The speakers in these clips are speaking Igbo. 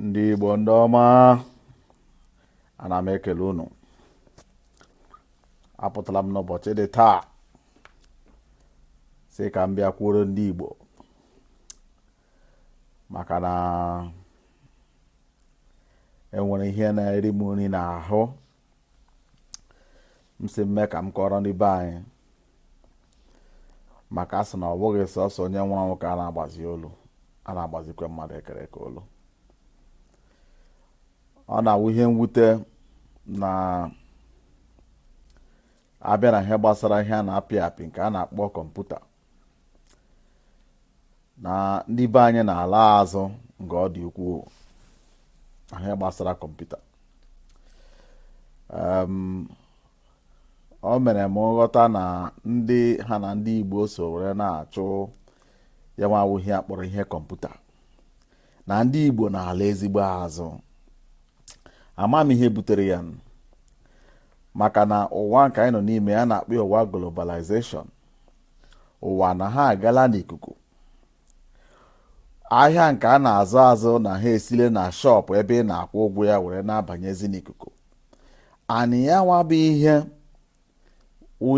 ndị Igbo ndị ọma ana m ekele unu apụtala m n'ụbọchị dị taa sị ka m bịa kwuoro ndị Igbo maka na enwere ihe na-eri m nri n'ahụ m sị mme ka m kọọrọ ndị be anyị maka a sị na ọ bụghị sọsọ onye nwụrụ anwụ ka a na-agbazi olu a na-agbazikwa mmadụ e kere eke olu ọ na-awụ ihe mwute na a bịa na ihe gbasara ihe a na-apị apị nke a na-akpọ kọmputa na ndị be anyị na-ala azụ nke ọ dị ukwuu na ihe gbasara kọmputa o mere m nghọta na ndị ha na ndị Igbo so were na-achụ ya nwa wụ ihe a kpọrọ ihe kọmputa na ndị Igbo na-ala ezigbo azụ ama m ihe butere ya maka na ụwa nke anyị nọ n'ime ya a na-akpọ ụwa globalization ụwa na ha agala n'ikuku ahịa nke a na-azụ azụ na ha esile na shop ebe ị na-akwụ ụgwọ ya were na-abanyezi n'ikuku and ya nwa bụ ihe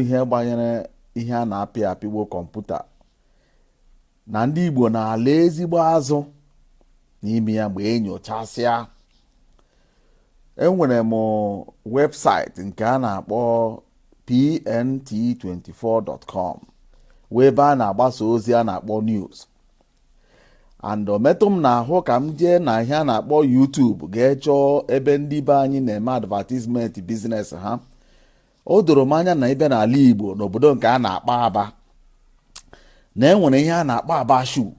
ihe gbanyere ihe a na-apị apị wụ kọmputa na ndị Igbo na-ala ezigbo azụ n'ime ya mgbe enyochasịa enwere m website nke a na-akpọ pnt24.com wụ ebe a na-agbasa ozi a na-akpọ news and o metụ m n'ahụ ka m jee na ihe a na-akpọ YouTube gaa chọọ ebe ndị be anyị na-eme advertisement business ha o doro m anya na ị bịa n'ala Igbo n'obodo nke a na-akpọ Aba na enwere ihe a na-akpọ Aba shoe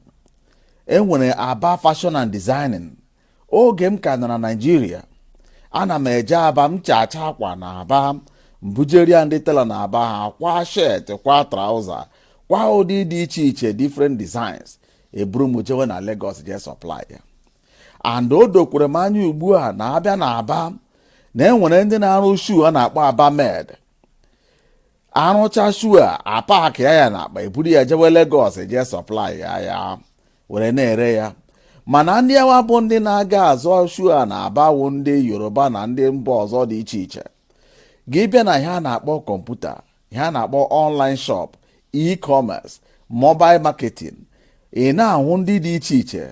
enwere Aba fashion and designing oge m ka nọ na Naịjirịa ana m eje Aba m chachaa akwa na Aba m bujere ya ndị tailor na Aba ha kwaa shirt kwaa trouser kwaa ụdị dị iche iche different designs eburu m jewe na Lagos jee supply ya and o dokwere m anya ugbu a na a bịa na Aba na enwere ndị na-arụ shoe a na-akpọ Aba made a rụchaa shoe a a pakịa ya na akpa eburu ya jewe Lagos jee supply ya ya were na-ere ya mana ndị awa bụ ndị na-aga azụ shoe a na Aba wụ ndị Yoruba na ndị mba ọzọ dị iche iche gị bịa na ihe a na-akpọ kọmputa ihe a na-akpọ online shop e-commerce mobile marketing ị na-ahụ ndị dị iche iche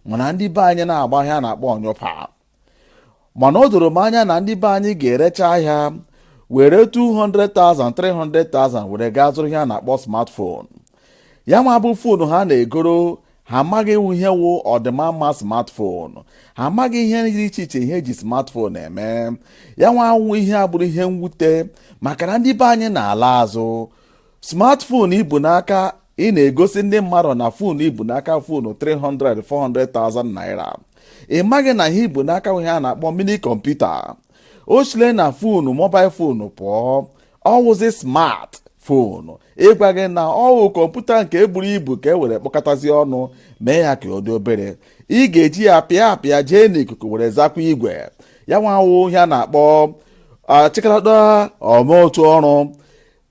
mana ndị be anyị na-agba ihe a na-akpọ ọnyụpa mana o doro m anya na ndị be anyị ga-erecha ahịa were 200,000 300,000 were gaa zụrụ ihe a na-akpọ smartphone ya nwa bụ phone ha na-egoro ha amaghị ihe wụ ọdịma mma smartphone ha amaghị ihe dị iche iche ihe e ji smartphone eme ya nwa wụ ihe a bụrụ ihe mwute maka na ndị be anyị na-ala azụ smartphone i bu n'aka ị na-egosi ndị mmadụ na fon i bu n'aka fon 300 400,000 naira ị maghị na ihe i bu n'aka wụ ihe a na-akpọ mini kọmputa o sile na fonu mobail fonu pụọ ọ wụzi smart fonu ịgwa gị na ọ wụ kọmputa nke buru ibu ka e were kpọkọtazi ọnụ mee ya ka ọ dị obere ị ga-eji ya pịa apịa jee n'ikuku were zakwa igwe ya nwa wụ ihe a na-akpọ achịkọta ọma otu ọrụ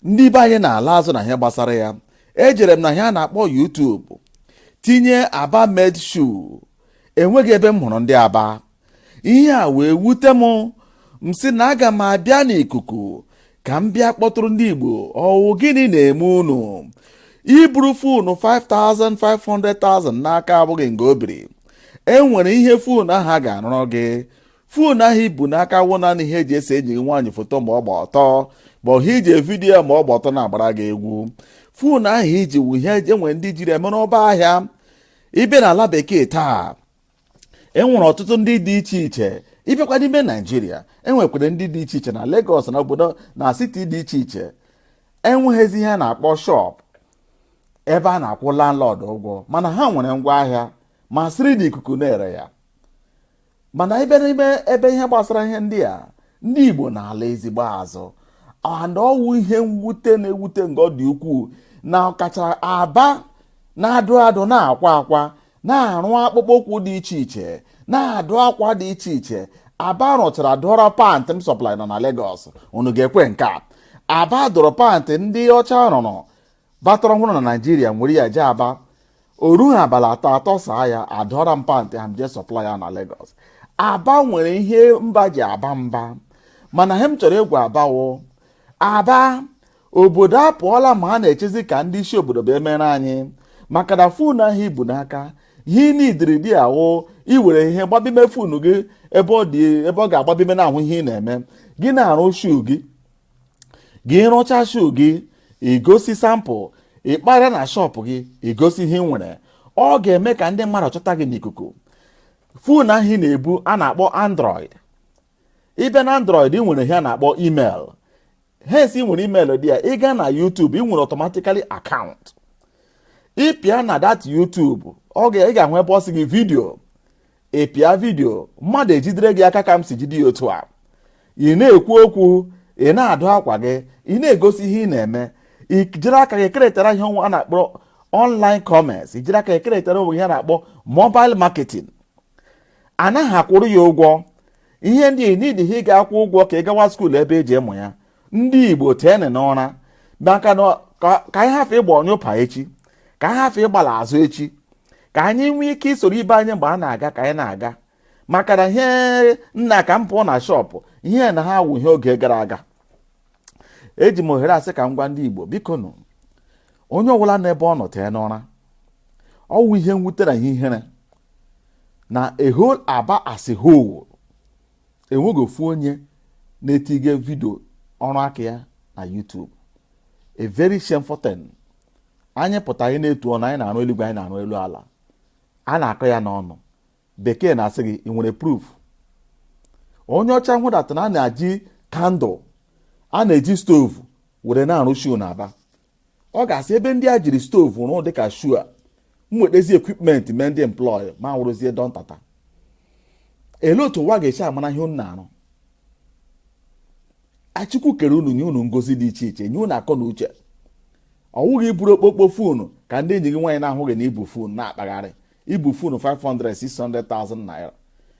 ndị be anyị na-ala azụ na ihe gbasara ya ejere m na ihe a na-akpọ YouTube tinye aba made shoe enweghị ebe m hụrụ ndị aba ihe a wee wute m m sị na aga m abịa n'ikuku ka m bịa kpọtụrụ ndị Igbo ọ wụ gịnị na-eme unu i buru fonu 5 500,000 n'aka abụghị nga o biri e nwere ihe fonu ahụ a ga-arụrụ gị fonu ahụ i bu n'aka wụ naanị ihe e ji ese enyi gị nwaanyị foto ma ọ gba ọtọ ma ọ bụ iji vidiyo ma ọ gba ọtọ na-agbara gị egwu fonu ahụ i ji wụ ihe e nwere ndị jiri emere ọba ahịa ị bịa n'ala bekee taa e nwere ọtụtụ ndị dị iche iche ị bịakwa n'ime naijiria e nwekwara ndị dị iche iche na Lagos na obodo na siti dị iche iche enweghịzi ihe a na-akpọ shop ebe a na-akwụ landlord ụgwọ mana ha nwere ngwa ahịa ma siri na ikuku na-ere ya mana ị bịa n'ime ebe ihe gbasara ihe ndị a ndị Igbo na-ala ezigbo azụ and ọ wụ ihe mwute na-ewute nke ọ dị ukwuu na ọkacha aba na-adụ adụ na-akwa akwa na-arụ akpụkpọ ụkwụ dị iche iche na-adụ akwa dị iche iche aba rụchara dụọrọ pantị m supply nọ na Lagos unu ga-ekwe nke a aba dụrụ pantị ndị ọcha rụrụ batara ọhụrụ na naijiria m were ya jee aba o ruha abalị atọ a tọsaa ya a dụọra m pantị ahụ m jee supply ya na Lagos aba nwere ihe mba ji aba mba mana ihe m chọrọ ịgwa aba wụ aba obodo apụọla ma a na-echezi ka ndị isi obodo bịa mere anyị maka na fon ahụ i bu n'aka ihe n'idiri dị ahụ i were ihe gbabime fon gị ebe ọ ga-agbabime na-ahụ ihe ị na-eme gị na-arụ shoe gị gị rụcha shoe gị i gosi sample ị kpara na shop gị i gosi ihe i nwere ọ ga-eme ka ndị mmadụ chọta gị n'ikuku fon ahụ ị na-ebu a na-akpọ android ị bịa na android i nwere ihe a na-akpọ email hence ị nwere email dị ya ị gaa na YouTube ị nwere automatically account ị pịa na that YouTube ọ ga ị ga-ahụ ebe ọ sị gị vidio ị pịa vidio mmadụ ejidere gị aka ka m si jide ya otu a ị na-ekwu okwu ị na-adụ akwa gị ị na-egosi ihe ị na-eme i jiri aka gị keretara ihe a na-akpọ online commerce i jiri aka gị keretara onwe ihe a na-akpọ mobile marketing anaghị akwụrụ ya ụgwọ ihe ndị nidi ha ịga akwụ ụgwọ ka ị gawa skuul ebe e ji ịmụ ya ndị igbo teenụ n'ụra maka na ka anyị hafụ ịgba ọnyụpa echi ka anyị hafụ ịgbala azụ echi ka anyị nwee ike isoro ibe anyị mgbe a na-aga ka anyị na-aga maka na ihe nna ka m pụọ na shọpụ ihe na ha wụ ihe oge gara aga eji m ohere a sị ka m gwa ndị igbo bikonụ onye ọbụla n'ebe ọ nọ tee n'ụra ọ wụ ihe mwute na ihe ihere na a whole aba as a whole enweghị ofu onye na-etige vidio ọrụ aka ya na YouTube a very shameful thing anyị pụta anyị na-etu ọnụ anyị na-arụ eluigwe anyị na-arụ elu ala a na-akọ ya n'ọnụ bekee na-asị gị ị nwere proof onye ọcha hụdata na a na-eji kandụl a na-eji stovu were na-arụ shuu na aba ọ ga-asị ebe ndị a jiri stovu rụọ dịka shuu a m wetezi equipment mee ndị employ m awụrụzie Dantata ele otu ụwa ga-esi amara ihe unu na-arụ a chukwu kere unu nye unu ngozi dị iche iche nye unu akọ na uche ọ wụghị iburu okpokpo fonu ka ndị enyi gị nwaanyị na-ahụ gị na i bu fonu na-akpagharị i bu fonu 500 600,000 naira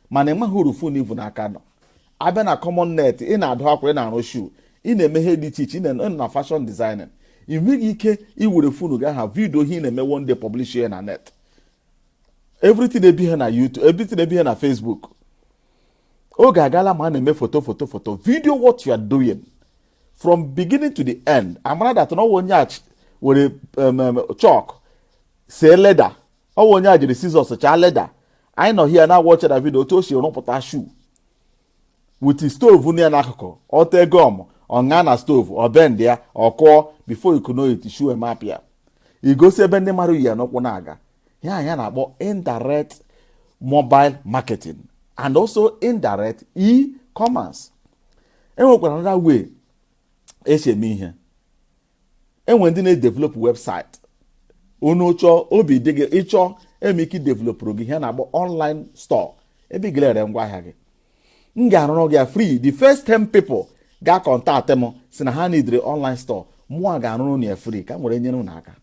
mana ị maghị uru fonu i bu n'aka nọ a bịa na common net ị na-adụ akwa ị na-arụ shu ị na-eme ihe dị iche iche ị na- na fashion designing ị nweghị ike iwere fonu gị aha vidio ihe ị na-eme one day publish ya na net everything ebi ha na youtube everything ebi ha na facebook oge agaala ma a na-eme foto foto foto video what you are doing from beginning to the end a mara that na ọ wụ onye a ch- were um, um, chalk see leda ọ wụ onye a jiri sizọs chaa leda anyị nọ hia na-awatch that vidio otu o si rụpụta shu with stovu nọ ya n'akụkụ o tee gum ọ ṅaa na stovu ọ bend ya ọ kụọ before you could know it shu emapịa i gosi ebe ndị mmadụ yi ya n'ụkwụ na-aga ihe a na-akpọ indirect mobile marketing and also indirect e-commerce e nwekwara another way esi eme ihe e nwe ndị na-edevelopụ website unu chọọ obi dị gị ị chọọ e nwee ike developụrụ gị ihe na-akpọ online store ebe ị ga-ere ngwa ahịa gị m ga-arụrụ gị ya free the first 10 people ga-akọntaktị m sị na ha nidiri online store mụwa ga-arụrụ unu ya free ka m were nyere unu aka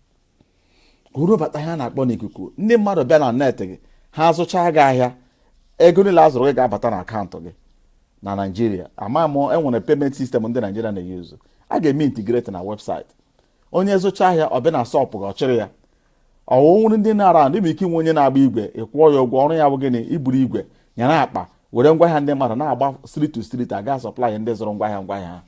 uru bata ihe a na-akpọ n'ikuku ndị mmadụ bịa na net gị ha azụchaa gị ahịa ego niile a zụrụ gị ga-abata na akaụntụ gị na naijiria ama m e nwere payment sistem ndị naijiria na-eyuzu a ga-eme integrate na webụsaịtị onye zụcha ahịa ọ bịa na shọpụ gị ọ chịrị ya ọ wụrụ ndị na-ara ndị bụ ike inwe onye na-agba igwe ị kwụọ ya ụgwọ ọrụ ya bụ gịnị iburu igwe nyere akpa were ngwaahịa ndị mmadụ na-agba street to street aga sọplai ndị zụrụ ngwaahịa ngwaahịa ha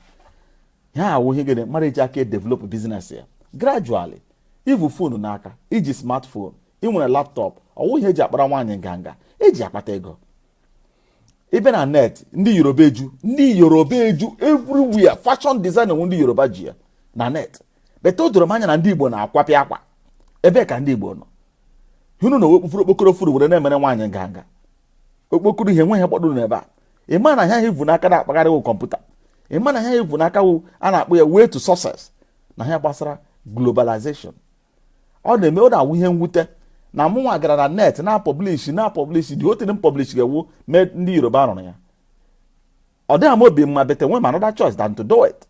ha awụ ihe gịnị mmadụ eji aka edevelop biznes ya gradually ivu fonu n'aka iji smartphone ị nwere laptọp ọ wụ ihe e ji akpara nwaanyị nganga e ji ya akpata ego ị bịa na net ndị yoruba eju ndị yoruba eju everywhere fashion design ọ wụ ndị yoruba ji ya na net bete o doro m anya na ndị igbo na-akwapịa akwa ebee ka ndị igbo nọ unu na okpufuru okpokoro fonu were na-emere nwaanyị nganga okpokoro ihe nweghị gbadoro n'ebe a ị ma na ihe a ị vu n'aka na-akpagharị wụ kọmputa ị ma na ihe a ị vu n'aka wụ a na-akpọ ya way to success na ihe gbasara globalization ọ na-eme ọ na-awụ ihe mwute na mụnwa gara na net na pọblishi na pọblishi dị otere m pọblishi ga-ewu mee ndị yoruba rụrụ ya ọ dịghị m obi mma bete enweghị m another choice than to do it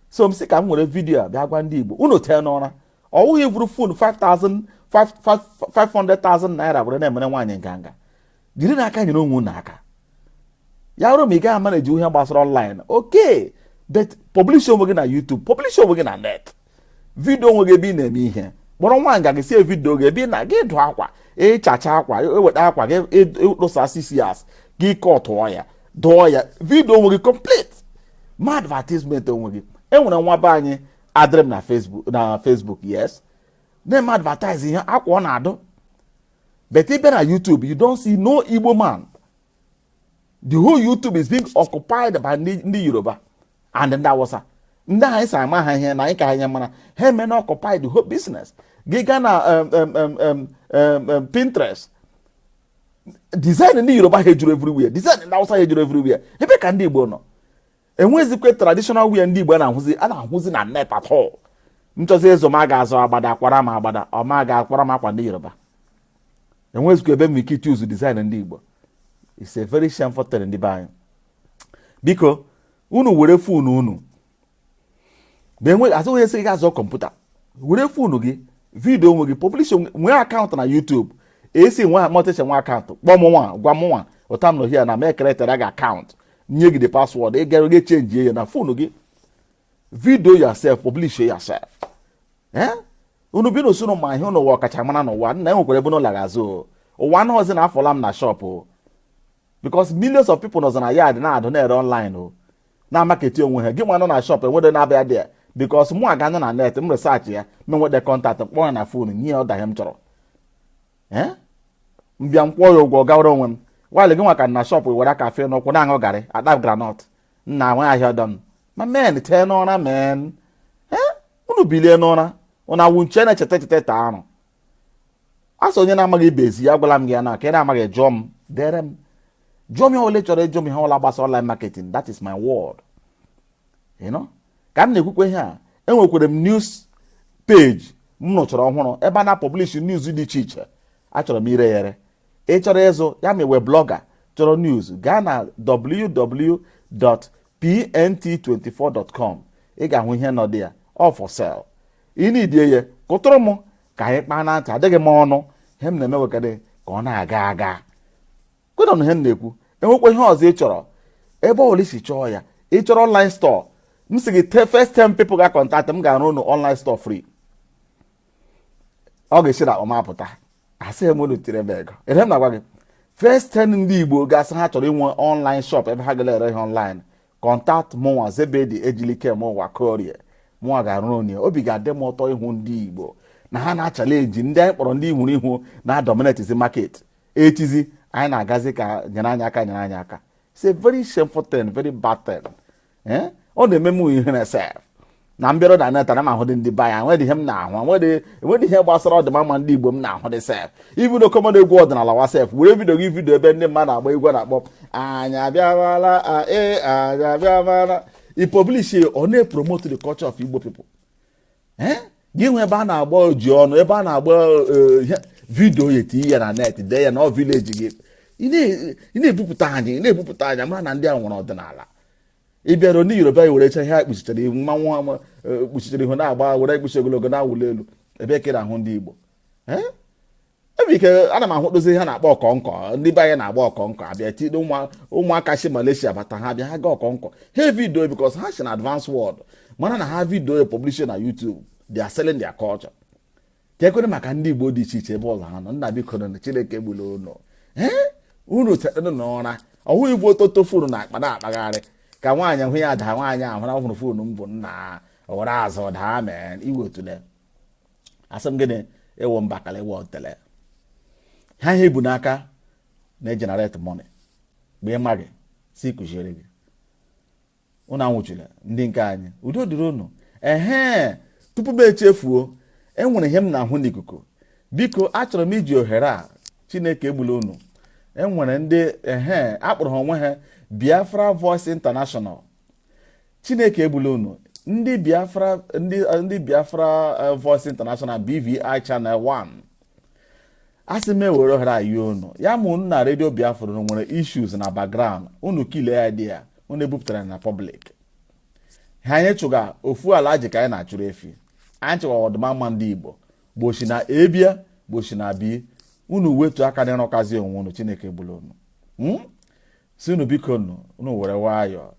so m sị ka m were vidiyo a bịa gwa ndị Igbo unu tee n'ụra ọ wụghị ivuru fon 500,000 naira were na-emere nwaanyị nganga jirinụ aka nyere onwe unu aka ya bụrụ ma ị gaghị amaneji ihe gbasara ọnlaịn oke but publish onwe gị na YouTube publish onwe gị na net vidio onwe gị ebe ị na-eme ihe kpọrọ nwanne gị sị ya vidio gị ebe ị na-adụ akwa ị chachaa akwa e weta akwa gị ị tụsa scissors gị ị kọtụọ ya dụọ ya vidio onwe gị complete ma advertisement onwe gị e nwere nwa be anyị adịrị m na Facebook yes na-eme advertise ihe akwa ọ na-adụ but ị bịa na YouTube you don't see no Igbo man the whole YouTube is being occupied by ndị Yoruba and ndị Awụsa ndị anyị sị amaghị ihe na anyị ka ha mara ihe emena occupied the whole business gị gaa na um, um, um, Pinterest design ndị yoruba ha ejuru everywhere design ndị awụsa ha ejuru everywhere ebe ka ndị igbo nọ enwezikwe traditional wear ndị igbo a na-ahụzi a na-ahụzi na net at all m chọzie ịzụ m ga-azụ agbada a kwara m agbada ọ ma ga-akwara m akwa ndị yoruba enwezikwa ebe m ike ichuzu design ndị igbo it's a very shameful thing ndị be anyị biko unu were fon unu asịghị sị gị zụọ kọmputa were fonu gị vidio onwe gị pọblish nwee akaụntụ na YouTube esi nwa mọtịcha nwee akaụntụ kpọọ mụnwa gwa mụnwa otu a m nọ here na m ekeretara gị akaụntụ nye gị the password ị gara ga chenji ya na fonu gị vidio yourself publish yourself eh? unu bi n'usoro ma ihe n'ụwa ọkachamara n'ụwa nna enwekwara ebe n'ụlọ azụ ụwa anọghịzi na afụọla m na shọpụ because millions of people nọzi na yard na-adụ na-ere online o na-amaketi onwe ha gị nwa nọ na shop enwede na-abịa there because mụ aga na net m researchị ya m enwete contact m kpọọ ya na phone nye ya order ihe m chọrọ ee m bịa m kwụọ ya ụgwọ gawara onwe m while gị nwa ka nọ na shop were aka fee n'ụkwụ na-aṅụ garị ata groundnut nna nwe ahịa ọdọ m ma men tee n'ụra men ee unu bilie n'ụra unu awụ nche na-echeta echeta ete arụ a sị onye na-amaghị ibe ezi ya gwala m gị ya nke ị na-amaghị jụọ m dere m jụọ m ihe ọla ị chọrọ ịjụ m ihe ọla gbasa online marketing that is my world you know ka m na-ekwukwe ihe a enwekwere m news page m rụchara ọhụrụ ebe a na-apublish news dị iche iche achọrọ m ire ya ere ị chọrọ ịzụ ya ma ị wụ blogger chọrọ news gaa na www.pnt24.com ị ga-ahụ ihe nọ there all for sale ị needie ya kụtụrụ m ka anyị kpaa na ntị adịghị m ọnụ ihe m na-eme wekadị ka ọ na-aga aga kwenụnụ ihe m na-ekwu enwekwa ihe ọzọ ị chọrọ ebe ọbụla ị si chọọ ya ị chọrọ online store m sị gị the first ten people ga contact m ga-arụ unu online store free ọ ga-esi n'akpa m apụta asịghị m unu tiri m ego ihe m na-agwa gị first ten ndị igbo ga-asị ha chọrọ inwe online shop ebe ha ga-ere ihe online contact mụnwa zebedi ejilikemeụwa okorie mụnwa ga-arụrụ unu ya obi ga-adị m ụtọ ịhụ ndị igbo na ha na-achallenge ndị anyị kpọrọ ndị ihuru ihu na-adominatezi market echizi anyị na-agazi ka nyere anyị aka nyere anyị aka it's a very shameful thing very bad thing eh? ọ na-eme m ihere sef na m bịara na net ana m ahụdị ndị be anyị nwedị ihe m na-ahụ enwedị ihe gbasara ọdịmma ndị igbo m na-ahụ dị sef even common egwu ọdịnala wa sef were video gị video ebe ndị mmadụ agba egwu na-akpọ anyị abịawala ee anyị abịawala ị publishi ọ na-epromote the culture of igbo people eh? gị nwe ebe a na-agba ojiọnụ ebe a na-agba eh, ihe video ya eti ya na net dee ya na ọ village gị ị na-ebupụta anyị ị na-ebupụta anyị mara na ndị a nwere ọdịnala ị bịara ndị yoruba ya were cha ihe a kpuchichara ihu mmanwụ e, kpuchichara ihu na-agba were ekpuchi ogologo na-awụli elu ebe ka ị na-ahụ ndị igbo ebe ike ana m ahụdụzi ihe a na-akpọ ọkọnkọ ndị be anyị na-agba ọkọnkọ abịa state ụmụaka si Malaysia bata ha bịa ha ga ọkọnkọ ha video because ha si na advance world mara na ha video publish na YouTube they are selling their culture ka ekwere maka ndị igbo dị iche iche ebe ọla ha nọ nna bikonụ chineke egbula unu ee unu tetanụ n'ụra ọ wụ ibu ọtụtụ phone n'akpa na-akpagharị ka nwaanyị hụ ya daa nwaanyị ahụ na ọhụrụ phone m bu nna ọ were azụ daa mee iwe otule asị m gịnị ị wụ mbakala ị wụ otele ha ihe ị bu n'aka na-egenerate money mgbe ị maghị sị kuziere gị unu anwụchula ndị nke anyị udo dịrị unu ehee tupu m echefuo enwere ihe m na-ahụ n'ikuku biko achọrọ m iji ohere a chineke egbula unu enwere ndị ehe akpọrọ ha onwe ha biafra voice international chineke egbula unu ndị biafra ndị biafra eh, voice international bvi channel 1 a sị m ewere ohere a yi unu ya ma unu na redio biafra unu nwere issues na background unu clear ya dị ya unu ebupụtara na public ihe anyị chụga ofu alhaji ka anyị na-achụrụ efi anyị chụga ọdịmma ndị igbo gbochi na ebia gbochi na bi unu wetu aka na ịrụkazi onwe unu chineke egbula unu Hmm? si unu biko nu unu were nwayọọ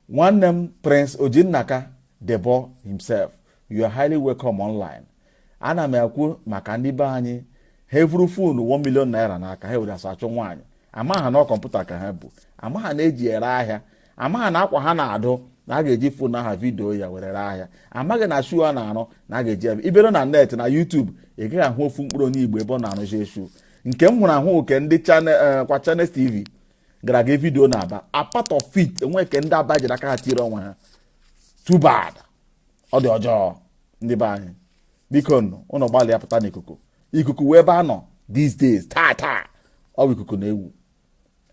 nwanne m prince ojinnaka debo himself you are highly welcome online ana m ekwu maka ndị be anyị ha evuru foonu 1 million naira n'aka ha were asachụ nwaanyị ama ha na kọmputa ka ha bu ama ha na e ji ere ahịa ama ha na akwa ha na-adụ na a ga-eji foonu aha vidiyo ya were ree ahịa amaghị na shu a na-arụ na a ga-eji ebe ibere na net na YouTube ị gaghị ahụ ofu mkpụrụ onye Igbo ebe ọ na-arụzi shu nke m hụrụ ahụ nke ndị eh, kwa Channels TV gara aga vidiyo n'aba apart of it enwe ke ndị aba jiri aka ha tiere onwe ha too bad ọ dị ọjọọ ndị be anyị biko nụ ụnụ gbalịa pụta n'ikuku ikuku wụ ebe a nọ these days taa taa ọ bụ ikuku na-ewu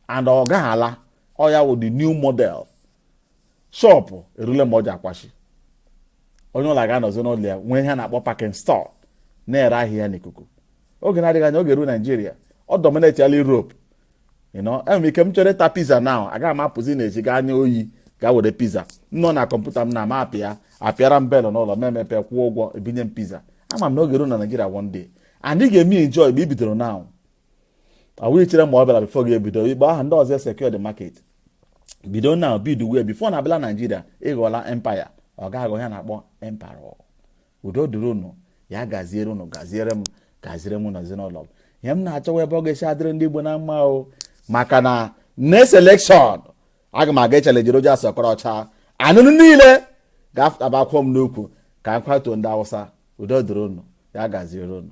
and ọ gaghị ala ọ ya wụ the new model shọpụ erule mgbe ọ ji akwachi onye ọwụla ga-anọzi n'ụlọ ya nwee ihe a na-akpọ packing store na-ere ahịa n'ikuku oge na-adịghị anya ọ ga-eru naijiria ọ dominetiala Europe enwere ike m chọrọ ịta piza now agaghị m apụzi n'ezi gaa anya oyi gaa were piza m nọ na kọmputa m na m apịa a pịara m belụ n'ụlọ m emepe kwụọ ụgwọ ebunye m piza ama m na ọ ga-eru na Naịjirịa one day anyị ga-eme enjoy mgbe i bidoro now awụ ichere ma ọ bịala bifo gị ebido mgbe aha ndị ọzọ secure the market bido now bidowe bifo na abịala Naịjirịa ị ghọọla empire ọ ga-aghọ ihe a na-akpọ empire udo dụrụ unu ya gaziere unu gaziere m gaziere m na ezinụlọ m ihe m na-achọwa ebe ọ ga-esi adịrị ndị Igbo na mma o maka na next election aga m aga echalenji Rochas Okorocha na unu niile ga-afụta bakwuo m n'ukwu ka m kwatuo ndị Awụsa udo dụrụ unu ya gaziere unu